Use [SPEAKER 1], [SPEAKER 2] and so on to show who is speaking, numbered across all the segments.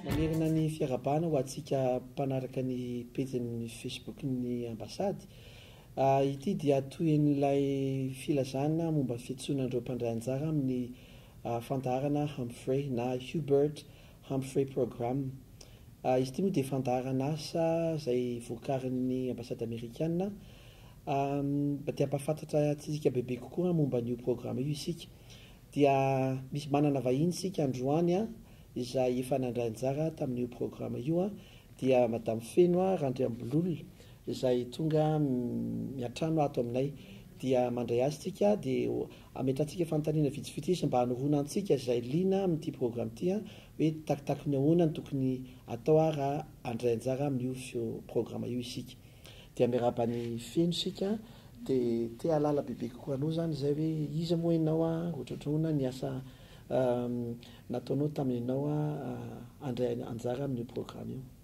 [SPEAKER 1] Manerana ny fiarahabana ho antsika mpanaraka ny pejin'ny Facebook-n'ny Ambasady. Ity dia tohin'ilay filazana momba ny fiantsoana an'ireo mpandray anjara amin'ny fandaharana Humphrey na Hubert Humphrey Programme. Izy ity moa dia fandaharan'asa izay vokarin'ny Ambasady Amerikana. Mba te hampahafantatra antsika bebe kokoa momba an'io programa io isika dia misy manana vahiny isika androany izay efa nandray anjara tamin'io programa io dia Madame Feno Randriambololona izay tonga miantrano ato aminay dia mandray azy isika dia Ametrahantsika fanontaniana vitsivitsy izy mba hanoroana antsika izay liana amin'ity programme ity hoe takitaky ny ahoana no tokony atao ary raha handray anjara amin'io programme io isika. Dia miarahaba ny feno isika dia te hahalala bebe kokoa anao izany izay hoe iza moa ianao ary ohatrohatry ny ahoana ny asa nataonao tamin'ianao handray anjara amin'io programme io.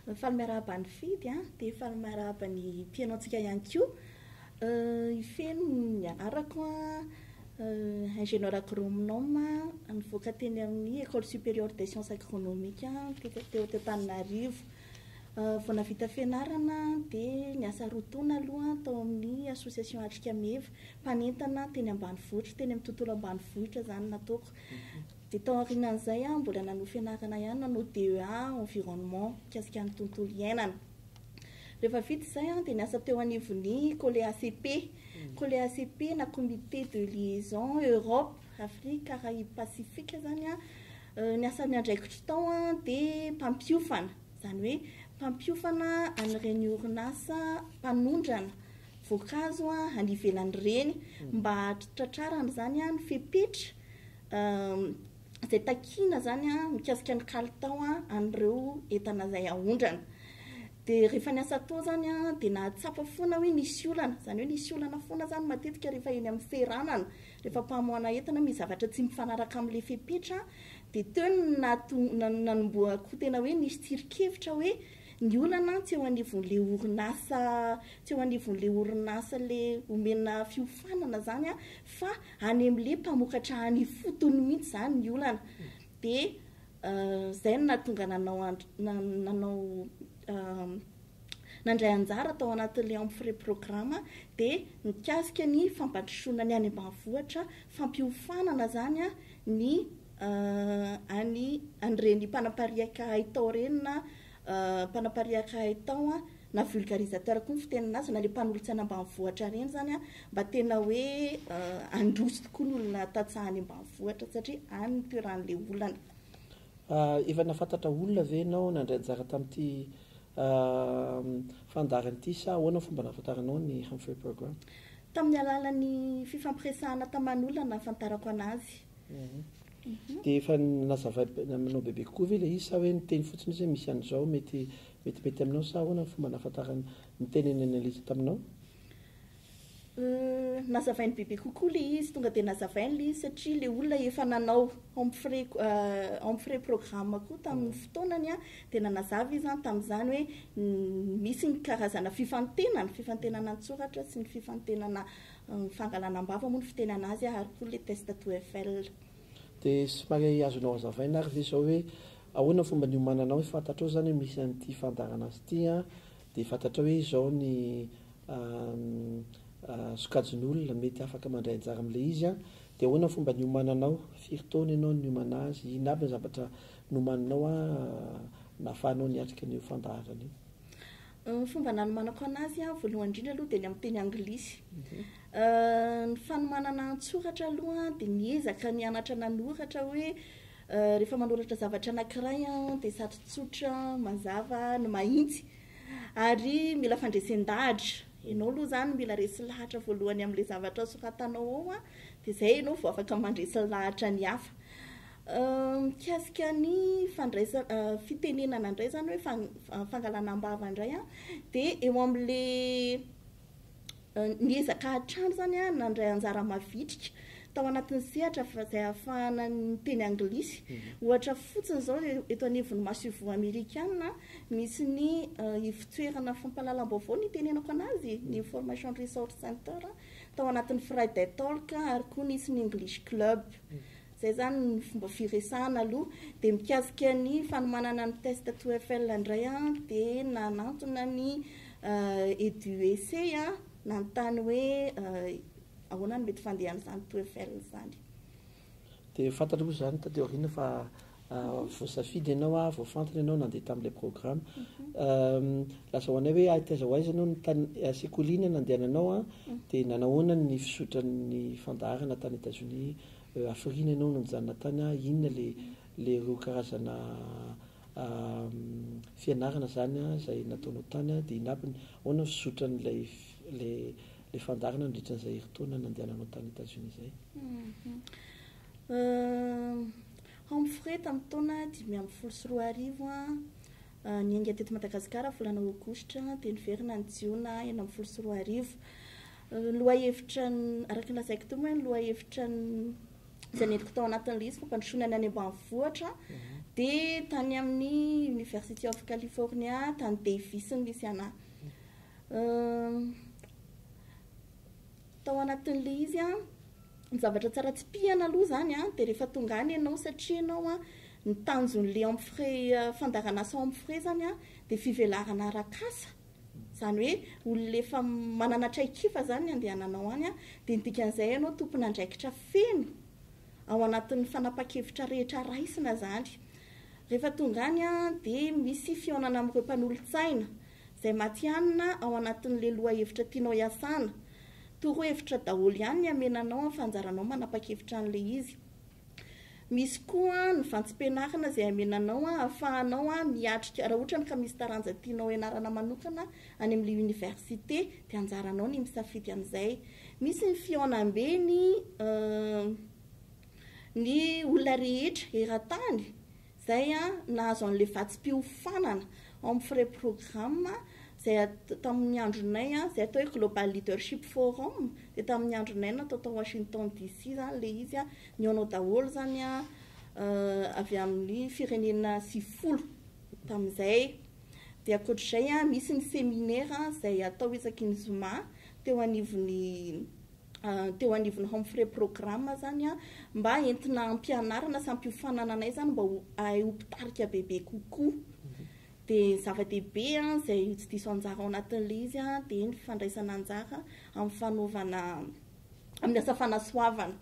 [SPEAKER 2] Mifaly miarahaba an'i Fidy a, dia mifaly miarahaba ny mpihaino antsika ihany koa. Hifeno ny anarako an, Ingénieur Agronome nivoaka teny amin'ny Ecole Supérieure des Sciences Agronomiques teto teto Antananarivo. Vao nahavita fianarana dia niasa roa taona aloha tao amin'ny Association Atrika Meva, mpanentana teny ambanivohitra, teny amin'ny tontolo ambanivohitra izany nataoko. Dia tao aorianan'izay aho mbola nanohy fianarana ihany, nanao DEA environnement, mikasika ny tontolo iainana. Rehefa vita izay aho dia niasa teo anivon'ny COLEACP, COLEACP na Comité de Liaison Europe, Afrique, Caraïbes, Pacifique izany an. Ny asan'ny andraikitro tao dia mpampiofana, izany hoe mpampiofana an'ireny orinasa mpanondrana voankazo any ivelan'ireny mba hahatratrarana izany ny fepetra, izay takiana izany mikasika ny kalitao an'ireo entana izay aondrana. Dia rehefa ny asa atao izany dia nahatsapa foana hoe nisy olana, izany hoe nisy olana foana izany matetika rehefa eny amin'ny seranana, rehefa mpamoahana entana misy zavatra tsy mifanaraka amin'ilay fepetra dia teo no nahatonga, nanombohako tena hoe nisy tsirinkevitra hoe ny olana tsy eo anivon'ilay orinasa, tsy eo anivon'ilay orinasa ilay omena fiofanana izany fa Anemle mpamokatra any ifotony mihitsy izany ny olana dia izay no nahatonga nanao nanao nandray anjara tao anatin'ilay Amphoraie Programme dia nikasika ny fampandrosoana ny any ambanivohitra, fampiofanana izany ny any an'ireny mpanapariaka haitao ireny na mpanapariaka haitao na vulgarisateur koa ny fitenina azy, na le mpanolotsana ambanivohitra reny zany an, mba tena hoe handroso tokoa ny olona tantsaha any ambanivohitra satria any ny toeran'le olana.
[SPEAKER 1] Efa nahafantatra olona ve ianao nandray anjara tamin'ity fandaharana ity sa ahoana ny fomba nahafantaranao ny Humphrey Program? Tamin'ny alalan'ny
[SPEAKER 2] fifampiresahana taman'olona nahafantarako anazy.
[SPEAKER 1] Dia efa nazavainao bebe kokoa ve ilay izy sa hoe niteny fotsiny izy hoe misy an'izao mety Vetibety aminao sa ahoana ny fomba nahafantarany ny teny ny analyste aminao? Euh,
[SPEAKER 2] nazavainy bebe kokoa le izy, tonga dia nazavainy le izy satria le olona efa nanao empfrais euh, empfrais programme koa tamin'ny mm. fotoanany a, dia nanazava izy an tamin'izany hoe misy ny karazana fifantenana, fifantenana an-tsoratra sy ny fifantenana euh, fangalana am-bava moa ny fiteny an'azy ary koa le test TOEFL. Dia
[SPEAKER 1] somary azonao hazavaina ary ve izao hoe ahoana ny fomba niomananao hoe fantatrao izany hoe misy an'ity fandaharana azy ity an, dia fantatrao hoe izao ny sokajin'olona mety afaka mandray anjara amin'ilay izy an, dia ahoana ny fomba niomananao, firy taona ianao niomana azy, inona aby ny zavatra nomaninao an nahafahanao niatrika an'io fandaharana io. Ny fomba nanomanako
[SPEAKER 2] anazy an, voalohany indrindra aloha dia ny amin'ny teny anglisy. Ny fanomanana an-tsoratra aloha an, dia miezaka mianatra nanoratra hoe rehefa manoratra zavatra anankiray an, dia sady tsotra, mazava no mahitsy. Ary mila fandresen-dahatra. Ianao aloha izany mila resy lahatra voalohany amin'ilay zavatra soratanao ao an, dia izay ianao vao afaka mandresy lahatra ny hafa. Mikasika ny fandraisana, fitenenana indray izany hoe fangalana am-bava indray an, dia eo amin'ilay niezaka hatrany izany aho nandray anjara mavitrika tao anatin'ny sehatra izay ahafahana miteny anglisy. Ohatra fotsiny izao, eto anivon'ny masoivoho amerikana, misy ny ivon-toerana fampahalalam-baovao nitenenako an'azy, ny Information Resource Center, tao anatin'ny Friday Talk ary koa nisy ny English Club. Zay zany ny fomba firesahana aloha, dia mikasika ny fanomanana ny test TOEFL indray an dia nanantona ny EduEC an nanontany hoe ahoana no mety fandehan'izany TOEFL izany.
[SPEAKER 1] Dia fantanao moa izany taty aoriana fa voasafidy ianao an, voafantina ianao nandeha tamin'ilay programme. Lazao anay hoe hay taiza ho aiza ianao no tany sekoly iny nandehananao an, dia nanahoana ny fizotran'ny fandaharana tany Etats-Unis Hafiriana ianao nanjanona tany aho inona le le roa karazana fianarana zany zay nataonao tany de inabny ahoana ny fizotran lay le le fandaharana nandritra an'izay heritaona nandehananao tany Etats Unis zay?
[SPEAKER 2] Humphrey tamin'ny taona dimy ambin'ny folo sy roa arivo an, Niainga teto Madagasikara volana Aogositra dia niverina ny Jiona enina ambin'ny folo sy roa arivo. Ny lohahevitra, araka ny lazaiko teo moa hoe ny lohahevitra izay nentiko tao anatin'ilay izy fampandrosoana ny any ambanivohitra dia tany amin'ny University of California, tany Davis no nisy anà. Tao anatin'ilay izy an, Ny zavatra tsara tsipihana aloha izany an, dia rehefa tonga any ianao, satria ianao an, ny tanjon'ilay empfrais, fandaharan'asa ao empfrais izany an, dia fivelarana arak'asa, izany hoe olona efa manana traik'ifa izany ny andehananao any an, dia ny dikan'izay ianao tompon'andraikitra feno ao anatin'ny fanapan-kevitra rehetra raisina izany. Rehefa tonga any an, dia misy fihaonana amin'ireo mpanolotsaina, izay matihanina ao anatin'ilay lohahevitra tianao hiasana, Torohevitra daholo ihany ny amenanao amin'ny fanjaranao manapa-kevitra an'ilay izy. Misy koa ny vantsim-pianarana izay amenanao ahafahanao miatrika, raha ohatrany ka misy taranja tianao hianarana manokana any amin'ilay oniversite dia anjaranao ny misafidy an'izay. Misy ny fihaonambe ny ny olona rehetra eran-tany. Izay nahazo an'ilay vatsim-piofanana ao amin'ny Frais Programme izay tamin'ny andronay, izay atao hoe Global Leadership Forum, dia tamin'ny andronay natao tao Washington DC izany ilay izy, nihaona daholo izany avy amin'ny firenena sivifolo tamin'izay. Dia ankoatra izay, misy ny seminera izay atao isaky ny zoma teo anivon'ny. teo anivon'ny Humphrey Programme zany a, mba entina hampianarana sy hampiofanana anay zany mba ho ahay ho mpitarika bebe kokoa. Dia ny zava-dehibe izay ho tsy diso anjara ao anatin'ilay izy a, dia ny fandraisana anjara amin'ny fanaovana, amin'ny asa fanasoavana.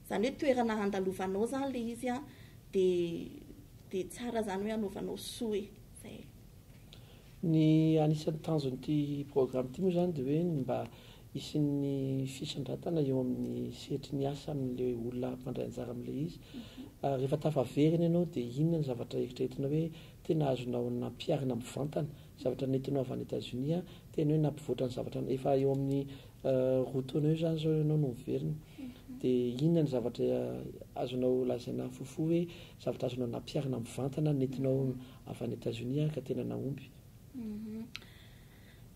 [SPEAKER 2] Izany hoe toerana andalovanao zany ilay izy a, dia dia tsara zany hoe anaovanao soa e. Izay.
[SPEAKER 1] Ny anisan'ny tanjon'ity programme ity moa izany dia hoe ny mba Hisian'ny fisondratana eo amin'ny sehatry ny asa amin'ilay olona mpandray anjara amin'ilay izy. Rehefa tafaverina ianao dia inona no zavatra eritreretinao hoe tena azonao nampiharina mivantana? Zavatra nentinao avy any Etazonia, tena hoe nampivoatra ny zavatra, efa eo amin'ny roa taona eo izany izao ianao no miverina. Dia inona no zavatra azonao lazaina fohifohy hoe zavatra azonao nampiharina mivantana nentinao avy any Etazonia ka tena nahomby?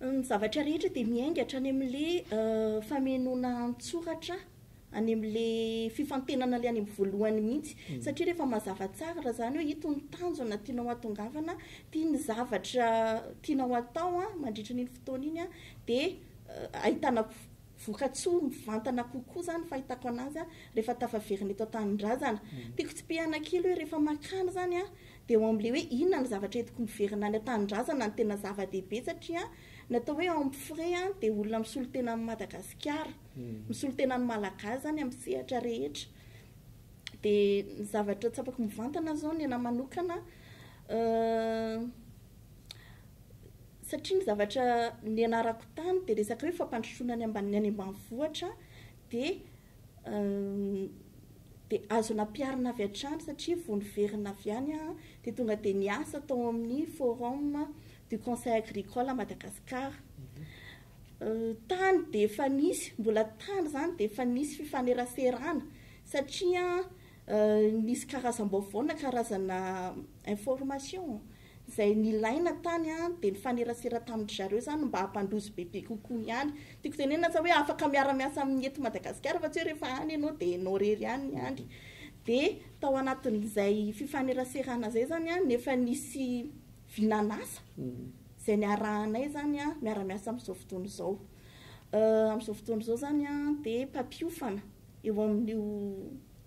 [SPEAKER 2] Ny zavatra rehetra dia miainga hatrany amin'ilay famenoana an-tsoratra, any amin'ilay fifantenana ilay any amin'ny voalohany mihitsy. Satria rehefa mazava tsara raha izany hoe ito ny tanjona tianao hahatongavana, ity ny zavatra tianao hatao mandritra an'iny fotoana iny, dia ahitana vokatsoa mivantana kokoa izany ny fahitako an'azy rehefa tafaverina eto an-tanindrazana. Tiako tsipihana kely hoe rehefa makany izany Dia ao amin'ilay hoe inona no zavatra entiko miverina any an-tanindrazana no tena zava-dehibe satria ny atao hoe homme frais an, dia olona misolo tena an'i Madagasikara, misolo tena ny Malagasy izany amin'ny sehatra rehetra. Dia ny zavatra tsapako mivantana izao ny anahy manokana satria ny zavatra nianarako tany dia resaka hoe fampandrosoana ny ambanivohitra dia dia azo nampiharina avy hatrany satria vao niverina avy any aho dia tonga dia niasa tao amin'ny forum du conseil agricole à Madagascar. Tany dia efa nisy, mbola tany izany dia efa nisy fifaneraserana satria nisy karazam-baovao na karazana information. Izay nilaina tany dia nifanerasera tamin-dry zareo izany mba hampandroso bebe kokoa ihany. Tiako tenenina sa hoe afaka miara-miasa amin'ny eto Madagasikara fa tsy hoe rehefa any ianao dia ianao irery ihany ny any. Dia tao anatin'izay fifaneraserana izay izany dia efa nisy vinan'asa izay niarahanay izany miara-miasa amin'izao fotoana izao. Amin'izao fotoana izao izany dia mpampiofana. eo amin'io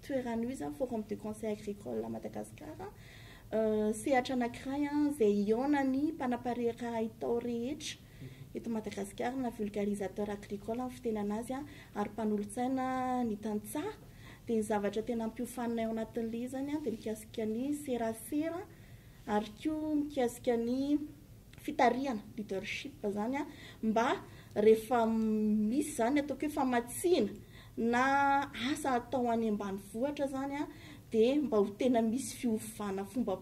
[SPEAKER 2] toerana io izany, Forum du Conseil Agricole à Madagascar, sehatra anankiray izay hihaonan'ny mpanapariaka haitao rehetra eto Madagasikara na vulgarisateur agricole ny fitenana azy ary mpanolotsaina ny tantsaha dia ny zavatra tena hampiofanina ao anatin'ilay izy izany dia mikasika ny serasera ary koa mikasika ny fitarihana, leadership, izany mba rehefa misy izany ataoko hoe famatsiana na asa atao any ambanivohitra izany dia mba ho tena misy fiovana fomba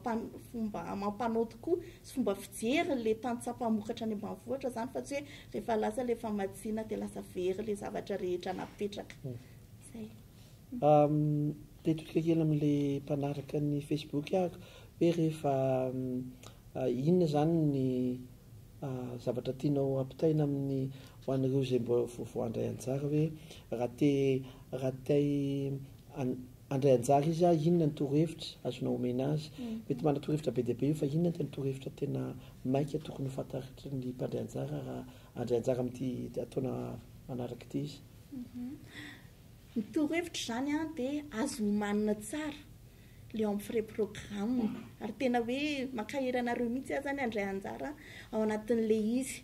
[SPEAKER 2] fomba amam-panao tokoa sy fomba fijery ilay tantsaha mpamokatra any ambanivohitra izany fa tsy hoe rehefa lasa ilay famatsiana dia lasa very ilay zavatra rehetra napetraka. Izay. Mipetraka
[SPEAKER 1] kely amin'ilay mpanaraka ny Facebook aho hoe rehefa inona izany ny zavatra tianao ampitaina amin'ny ho an'ireo izay mba vaovao handray anjara hoe raha te raha te handray anjara izy ah inona ny torohevitra azonao omena azy? Mety manana torohevitra be dia be io fa inona ny torohevitra tena maika tokony ho fantatry ny mpandray anjara raha handray anjara amin'ity ataona manaraka ity izy?
[SPEAKER 2] Ny torohevitra izany dia azo homanina tsara le eo amin'ny frais programme ary tena hoe mankahery anareo mihitsy aza ny handray anjara ao anatin'le izy.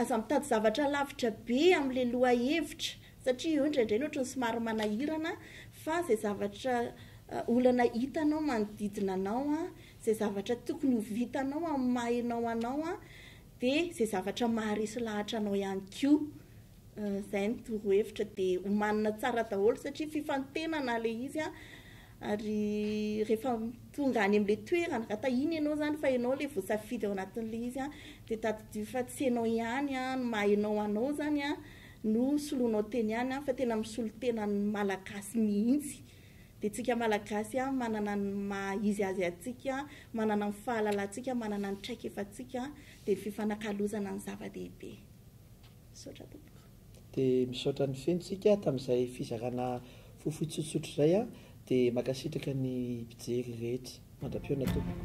[SPEAKER 2] Aza mitady zavatra lavitra be amle lohahevitra satria eo indraindray ny ohatrany somary manahirana fa izay zavatra olana hitanao manodidina anao, izay zavatra tokony ho vitanao amin'ny maha enao anao dia izay zavatra maharesy lahatra anao ihany koa Zay ny toro hevitra de omanina tsara daholo satria fifantenana le izy an, ary rehefa tonga any amle toerana ka tahiny enao zany fa enao le voasafidy ao anatinle izy an, de tadidio fa tsy enao ihany an ny maha enao anao zany an no soloinao teny any an fa tena misolo tena ny malagasy mihitsy de tsika malagasy an manana ny maha izy azy atsika manana ny fahalalantsika manana ny traikefatsika de ny fifanakalozana no zava-dehibe. Misaotra tompoko. Dia misaotra
[SPEAKER 1] ny feno tsika tamin'izay fizarana fohifohy tsotsotra izay an! Dia mankasitraka ny mpijery rehetra. Mandra-pihaona tompoko.